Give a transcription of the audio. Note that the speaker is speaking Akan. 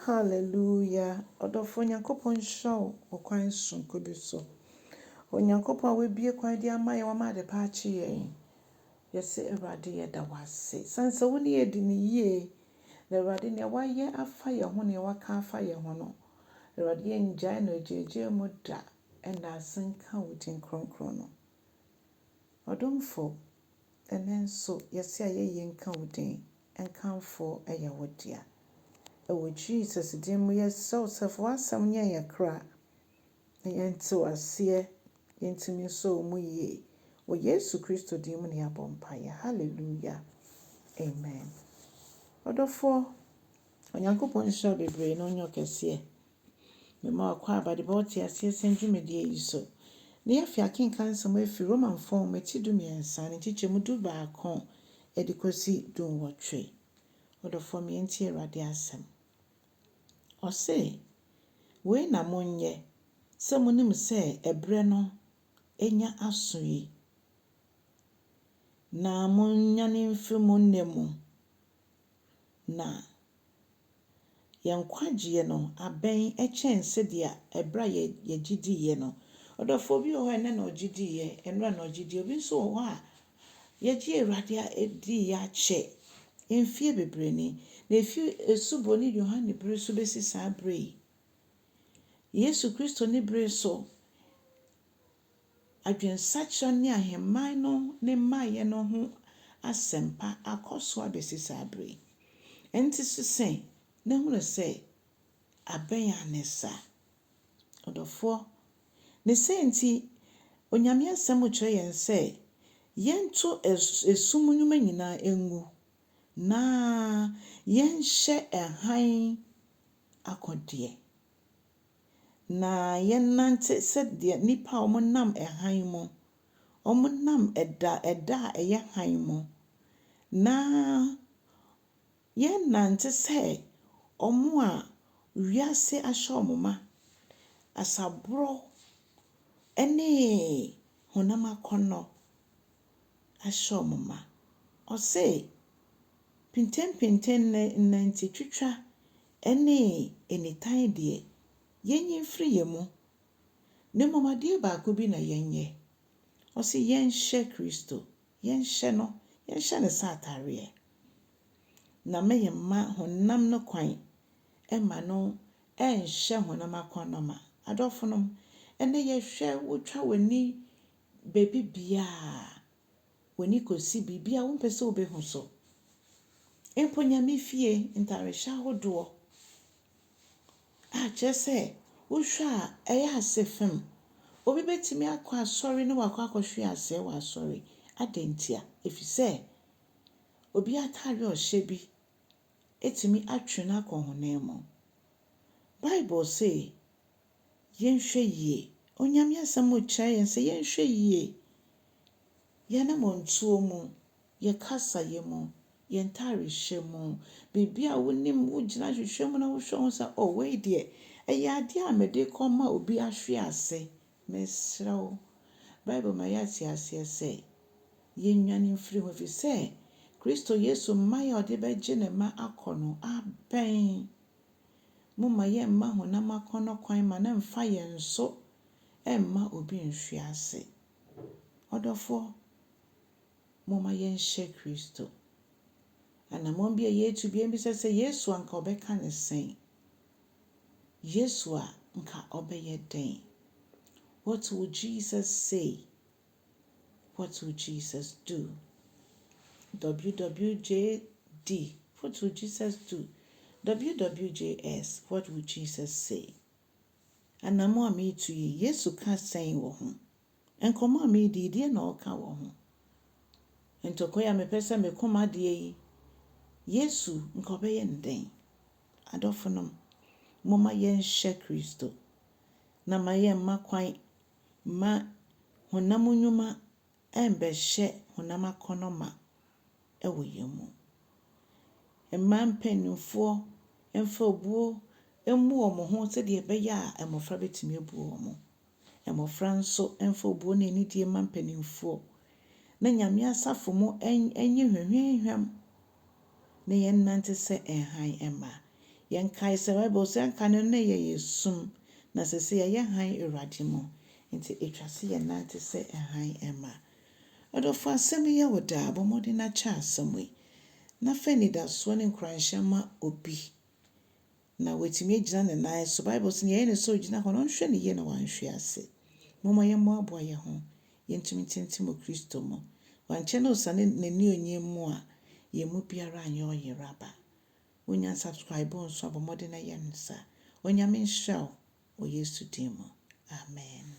Hallelujah! Ɔdɔfoɔ Nyankopɔn nhyira wo wɔ kwan sononko bi so. Onyankopɔn a wabue kwan de ama yɛn, wama adepa akye yɛn. Yɛse Awurade yɛda wo ase sane sɛ wo ne yɛn di no yie. Na Awurade nea wayɛ afa yɛn ho, nea waka afa yɛn ho no, Awurade yɛngyae no agyaagyaa mu da. Ɛnda ase nka wo din kronkron no. Ɔdomfo. Ɛnnɛ nso yɛse ayɛ yie nka wo din, nkamfo yɛ wo dea. Ɛwɔ Jesus din mu yɛsrɛ wo sɛ fa w'asɛm nyɛ yɛn kra na yɛnte wo aseɛ, yɛntumi nsɔ wo mu yie. Wɔ Yesu Kristo din mu na yɛabɔ mpaeɛ. Hallelujah. Amen. Ɔdɔfoɔ, Onyankopɔn nhyira wo bebree na ɔnyɛ wo kɛseɛ. Mema ɔkwaabade bɔ wo te aseɛ sɛn dwumadie yi so. Ne yɛafe akenkan nsɛm afiri Romanfoɔ nwoma ti dumiɛnsa ne nkyekyɛmu du baako de kɔsi du nwɔtwe. Ɔdɔfoɔ me yɛntie Awurade asɛm. Ɔse, Wei na monyɛ, sɛ monim sɛ ɛberɛ no anya aso yi, na monyane mfiri mo nna mu, na. Yɛn nkwagyeɛ no abɛn kyɛn sɛdeɛ ɛberɛ a yɛgye diiɛ no. Ɔdɔfoɔ bi wɔ hɔ a ɛnnɛ na ɔgye diiɛ, ɛnnora na ɔgye diiɛ. Obi nso wɔ hɔ a yɛgye Awurade adiiɛ akyɛ mfeɛ bebree ni. Na ɛfiri Osuboni Yohane berɛ so bɛsi saa berɛ yi, Yesu Kristo ne berɛ so, adwensakyera ne ahemman no ne mmaeɛ no ho asɛmpa akɔ so abɛsi saa berɛ yi. Enti sese na hunu sɛ abɛn ara ne saa. Ɔdɔfoɔ, ne sɛ nti, Onyame Asɛm kyerɛ yɛn sɛ yɛnto esum nnwuma nyinaa ngu na yɛnhyɛ hann akodeɛ. Na yɛnnante sɛdeɛ nnipa a wɔnam hann mu, wɔnam ɛda, ɛda a ɛyɛ hann mu, na yɛnnante sɛ wɔn a wiase ahyɛ wɔn ma, asaborɔ ne honam akɔnnɔ ahyɛ wɔn ma. Ɔse, Pentempenten nnɛ, nnantitwitwa Ɛne enitan deɛ, yɛnyi mfiri yɛn mu, na mmom adeɛ baako bi na yɛnyɛ. Ɔse yɛnhyɛ Kristo, yɛnhyɛ no, yɛnhyɛ ne sɛ ataareɛ, na mɛ yɛmma honam no kwan mma no ɛnhyɛ honam akɔnnɔma. Adɔfonom, ɛnnɛ yɛhwɛ, wotwa w'ani baabi biara, w'ani kɔsi biribi a wompɛ sɛ wobɛhu so, mpo Nyame fie ntarehyɛ ahodoɔ a kyerɛ sɛ wohwɛ a ɛyɛ ase fem. Obi bɛtumi akɔ asɔre na wakɔ akɔhwe aseɛ wɔ asɔre. Adɛn ntia? Ɛfiri sɛ obi atadeɛ a ɔhyɛ bi tumi atwe no akɔ honam mu. Bible se yɛnhwɛ yie. Onyame asɛm rekyerɛ yɛn sɛ yɛnhwɛ yie. Yɛn anammɔntuo mu, yɛn kasaeɛ mu, yɛn ntaarehyɛ mu, biribi a wonim, wogyina hwehwɛ mu na wohwɛ ho sɛ oh wei deɛ, ɛyɛ adeɛ a mede rekɔma obi ahwe ase. Mesrɛ wo, Bible ma yɛate aseɛ sɛ, yɛnnwane mfiri ho ɛfiri sɛ, Kristo Yesu mmaeɛ a ɔde bɛgye ne mma akɔ no abɛn. Momma yɛmma honam akɔnnɔ kwan ma no mfa yɛn so mma obi nhwe ase. Ɔdɔfoɔ, momma yɛnhyɛ Kristo. Anammɔn bi a yɛretu biara bisa sɛ, Yesu a anka ɔbɛka no sɛn? Yesu a anka ɔbɛyɛ dɛn? What will Jesus say? What will Jesus do? WWJD, What will Jesus do? WWJS, What will Jesus say? Anammɔn a meretu yi, Yesu ka sɛn wɔ ho? Nkɔmmɔ a meredi yi, deɛ na ɔka wɔ ho? Ntɔkwa yi a mepɛ sɛ me koma deɛ yi, Yesu nka ɔbɛyɛ no dɛn? Adɔfonom, momma yɛnhyɛ Kristo, na ma yɛmma kwan mma honam nnwuma mmɛhyɛ honam akɔnnɔ ma wɔ yɛn mu. Mmaa mpanimfoɔ mfa obuo mmu wɔn ho sɛdeɛ ɛbɛyɛ a mmɔfra bɛtumi abu wɔn. Mmɔfra nso mfa obuo ne anidie mma mpanimfoɔ. Na Nyame asafo mu nyɛ hwamhwamhwam na yɛnnante sɛ hann mma. Yɛnkae sɛ Bible se anka no na yɛyɛ sum, na sese yɛyɛ hann Awurade mu. Enti etwa se yɛnnante sɛ hann mma. Ɔdɔfo asɛm yi yɛ wo dɛ a, bɔ mmɔden na kyɛ asɛm yi, na fa anidasoɔ ne nkuranhyɛ ma obi Na watumi agyina ne nan so. Bible se, Nea ɛyɛ ne sɛ ogyina hɔ no, ɔnhwɛ ne yie na wanhwe ase. Momma yɛmmoaboa yɛn ho, yɛntumi ntintim wɔ Kristo mu. Wankyɛ na ɔsiane N'annuonyam mu a, yɛn mu biara anyɛ ɔyeraba. Wonnya nsubscriboo nso a, bɔ mmɔden na yɛ no saa. Onyame nhyira wo wɔ Yesu din mu. Amen.